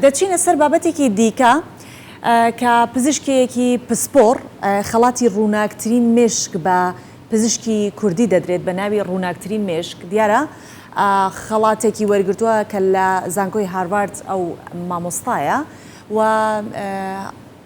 دەچینە سەر بابەتێکی دیکە کە پزیشکێیەکی پسپۆڕ خەڵاتی ڕووناکترین مێشک بە پزیشکی کوردی دەدرێت بە ناوی ڕووناکترین مێشک دیارە خەڵاتێکی وەرگرتووە کە لە زانکۆی هارڤارد ئەو مامۆستایە و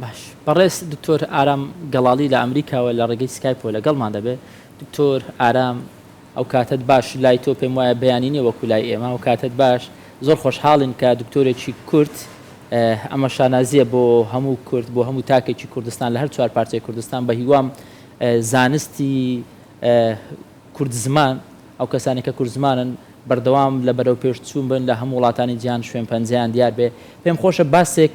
باش بەڕێز دکتۆر ئارام گەڵاڵی لە ئەمریکاوە لە ڕێگەی سکایپەوە لەگەڵمان دەبێ. دکتۆر ئارام ئەو کاتەت باش لای تۆ پێم وایە بەیانی نیە وەکو لای ئێمە ئەو کاتەت باش زۆر خۆشحاڵین کە دکتۆرێکی کورد ئەمە شانازیە بۆ هەموو کورد بۆ هەموو تاکێکی کوردستان لە هەر چوار پارچەی کوردستان بە هیوام زانستی کورد زمان ئەو کەسانی کە کورد زمانن بەردەوام لە بەرەو پێش چوون بن لە هەموو وڵاتانی جیهان شوێن پەنجەیان دیار بێ پێم خۆشە باسێک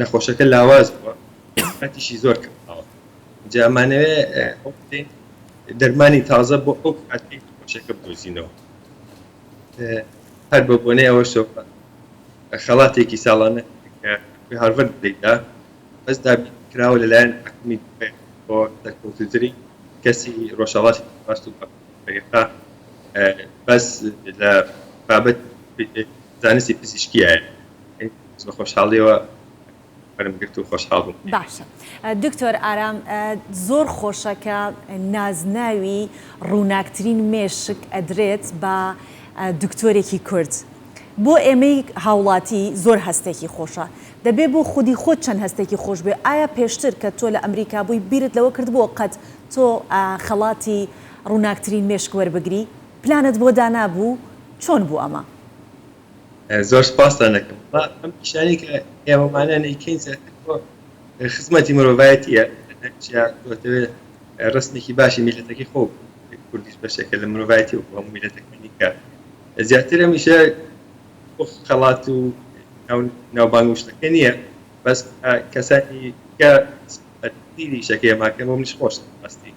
نەخۆشەکە لاواز بووە ئەتیشی زۆر کەماوە جا ئەمانەوێ ئەو بکەین دەرمانی تازە بۆ ئەو کاتی نەخۆشەکە بدۆزینەوە هەر بە بۆنەی ئەوە شەوە خەڵاتێکی ساڵانە کە هارڤەرد بدەیدا بەس دابی کراوە لەلایەن حکومی بۆ دەرکەوتوتری کەسی ڕۆژهەڵاتی باست و بەریقا بەس لە بابەت زانستی پزیشکیایە بە خۆشحاڵیەوە بەرم گرت و خۆشحاڵ بووم باشە دکتۆر ئارام زۆر خۆشە کە نازناوی ڕووناکترین مێشک ئەدرێت بە دکتۆرێکی کورد بۆ ئێمەی هاوڵاتی زۆر هەستێکی خۆشە دەبێ بۆ خودی خۆت چەند هەستێکی خۆش بێ ئایا پێشتر کە تۆ لە ئەمریکا بووی بیرت لەوە کرد بۆ قەت تۆ خەڵاتی ڕووناکترین مێشک وەربگری پلانت بۆ دانابوو چۆن بوو ئەمە؟ زۆر سپاستان دەکەم بەڵام ئەم پیشانەی کە ئێوەمانە نەیکەین زیاتر بۆ خزمەتی مرۆڤایەتیە هەرچیا تۆتەوێ ڕسمێکی باشی میلەتەکەی خۆ کوردیش بەشێکە لە مرۆڤایەتی و هەموو میلەتەکانی کە زیاتر هەمیشە خەڵات و ناوبانگ و شتەکە نییە بەس کەسانی کە دیری شەکەیە ماکەم و منیش خۆش ئەستی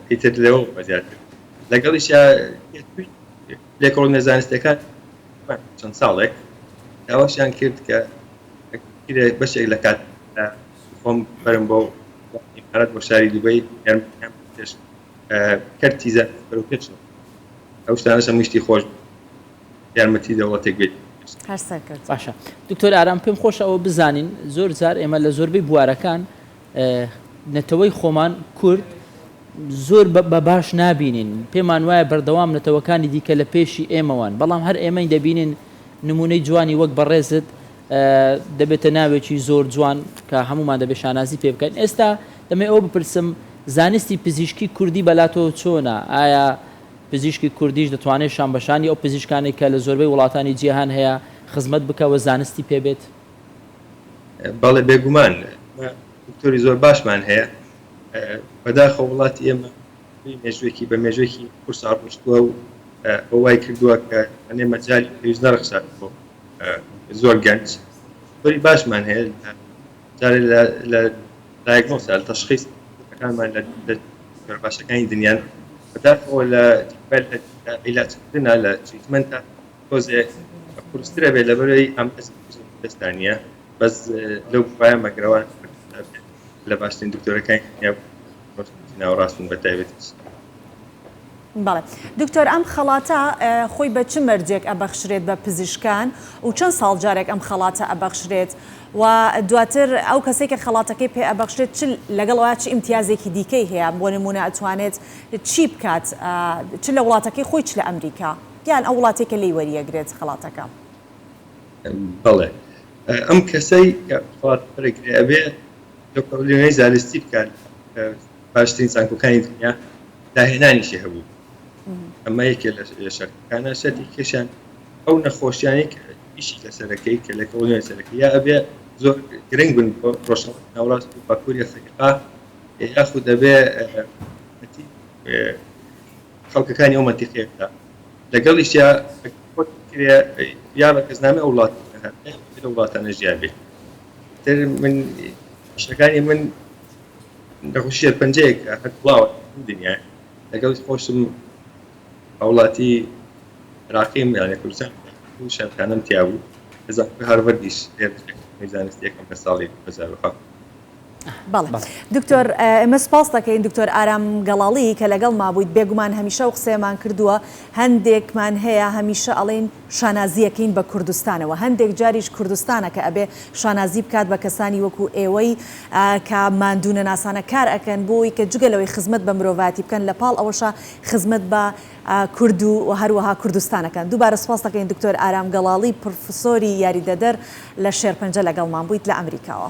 ئیتر لەوە بە زیاتر لەگەڵیشە لێکۆڵینەوە زانستییەکان دوای چەند ساڵێک داواشیان کرد کە ئەگەر بەشێک لە کاتەکانمدا خۆم بەرم بۆ ئیمارات بۆ شاری دوبەی یارمەتیان بە پێش کەرتی زانست بەرەوپێشەوە ئەو شتانەش هەمووی شتی خۆش بوو یارمەتی دەوڵەتێک بێت هەر سەرکەوتوو بن. باشە دکتۆر ئارام پێم خۆشە ئەوە بزانین زۆر جار ئێمە لە زۆربەی بوارەکان نەتەوەی خۆمان، کورد، زۆر بە باش نابینین، پێمان وایە بەردەوام نەتەوەکانی دیکە لە پێشی ئێمەوان، بەڵام هەر ئێمەی دەبینین، نموونەی جوانی وەک بەڕێزت دەبێتە ناوێکی زۆر جوان کە هەموومان دەبێت شانازی پێ بکەین. ئێستا دەمەوێت ئەوە بپرسم، زانستی پزیشکی کوردی بەلا تۆ چۆنە؟ ئایا پزیشکی کوردیش دەتوانێت شانبەشانی ئەو پزیشکانەی کە لە زۆربەی وڵاتانی جیهان هەیە، خزمەت بکا و زانستی پێ بێت؟ بەڵێ بێگومان دکتۆری زۆر باشمان هەیە بەداخە وڵاتی ئێمە مێژوێکی بە مێژێکی قورسا ڕشتووە و ئەوای کردووە کە ئەێ مەجای پێویست نەرخسات بۆ زۆر گەنج زۆری باشمان هەیە جارێ لە دایگۆ سال تەشخیص ئەەکانمان لە باشەکانی دنیان بەداخەوە لە عیلاجکردنا لە تریتمنتە تۆزێ قورستر ئەبێ لەبەرئەوەی ئەم ئەستا نییە بەس لەو بخوایە مەگرەوان لە باشترین دکتۆرەکانی دنیا ناوڕاستن بە تایبەتی بەڵێ دکتۆر ئەم خەڵاتە خۆی بە چ مەرجێک ئەبەخشرێت بە پزیشکان و چەند ساڵ جارێک ئەم خەڵاتە ئەبەخشرێت و دواتر ئەو کەسێک کە خەڵاتەکەی پێ ئەبەخشرێت چ لەگەڵ ئەوە چ ئیمتیازێکی دیکەی هەیە بۆ نمونە ئەتوانێت چی بکات چ لە وڵاتەکەی خۆی چ لە ئەمریکا یان ئەو وڵاتەی کە لێی وەریەگرێت خەڵاتەکە. بەڵێ ئەم کەسەی کە خەڵاتی وەرەگرێ ئەبێ دکتۆر لێنەی زالستی بکات لە باشترین زانکۆکانی دنیا داهێنانیشی هەبوو ئەمە یەکێ لە شەرتەکانە شەرتی کێشیان ئەو نەخۆشیانی کە ئیشی لەسەرەکەی کە لە کۆڵنیۆی سەرەکەی یا ئەبێ زۆر گرنگ بن بۆ ڕۆژهەڵات ناوەڕاست و باکووری ئەفریقا یاخود دەبێ خەڵکەکانی ئەو مەنتیقەیە بکا لەگەڵیشیا یا بە کەسنامە ئەو وڵات لە وڵاتانە ژیان بێت تر من شتەکانی من نەخۆشیە پنجەیەک هەر بڵاوە دنیا لەگەڵ خۆشم هاوڵاتی عراقیم یانە کوردستان شارکانم تیابوو هەزار هارڤەردیش زانستیەکەم لە ساڵی هەزار بەڵێ دکتۆر ئێمە سپاس دەکەین دکتۆر ئارام گەڵاڵی کە لەگەڵ مابوویت بێگومان هەمیشە و قسەیەمان کردووە هەندێکمان هەیە هەمیشە ئەڵین شانازیەکەین بە کوردستانەوە هەندێک جاریش کوردستانە کە ئەبێ شانازی بکات بە کەسانی وەکو ئێوەی کە مادوونە ناسانە کار ئەکەن بۆی کە جگە لەوەی خزمەت بە مرۆڤاتی بکەن لە پاڵ ئەوەشە خزمەت بە کورد و هەروەها کوردستانەکەن دووبارە سپاس دەکەین دکتۆر ئارام گەڵاڵی پرفسۆری یاریدەدەر لە شێرپەنجە لەگەڵمان بوویت لە ئەمریکاوە.